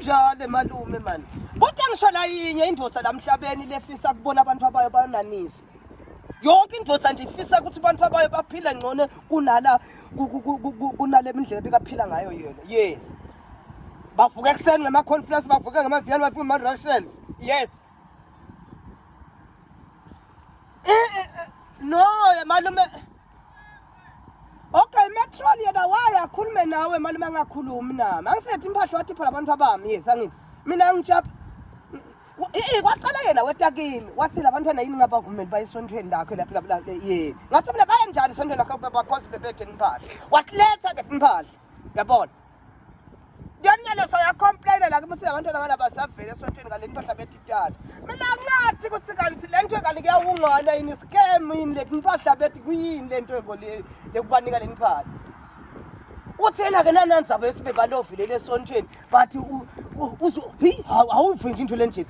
njalo emalume mani kodwa ngisho nayinye indoda la mhlabeni lefisa kubona abantu abayo bayonanisa yonke indoda nje ifisa ukuthi abantu abayo baphile ngcono kunala kunale mindlela bekaphila ngayo yena yes bavuka ekuseni ngama-conference bavuka ngama-vial bavuka ngama-russians yes eh, eh, eh, no malume Okay metrol yena waye akhulume nawe mali mangakhulumi nami angisethi imphahla wathi phela abantu abami yes angithi mina ngijapha Eh kwaqala yena wetakini wathi labantwana yini ngabavumeli bayesontweni lakho lapho lapho lapho ye ngathi mina bayenjani sontweni lakho bakhosi bebethe impahla wasiletha ke impahla yabona Ngenelesho yakhomplaina la kimi singabantwana balaba savele esontweni ngale mpahla betitana. Mina ngathi ukuthi kanti le nto kanti kuyawungana yini scam yini le mpahla bethi kuyini le nto eko le lekubanika le mpahla. Uthi yena ke nanandzaba yesibhebalovi leli esontweni but uzo hi awuvi nje into lenjeni.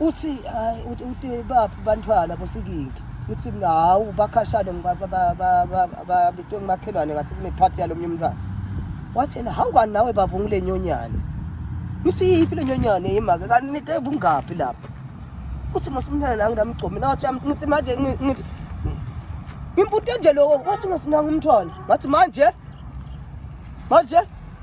uthi hayi uthi uthi baphi bantwana bosinkingi uthi mina hawu bakhashane babitwe ngumakhelwane ngathi kunephathi yalo mnye umntwana wathi yena hawu kani nawe baba ungule nyonyane ngithi yiphi le nyonyane yimake kanti nite bungaphi lapho uthi masumntana la nginamgcomi nawathi ngithi manje ngithi ngimpute nje loko wathi ngasinanga umntwana ngathi manje manje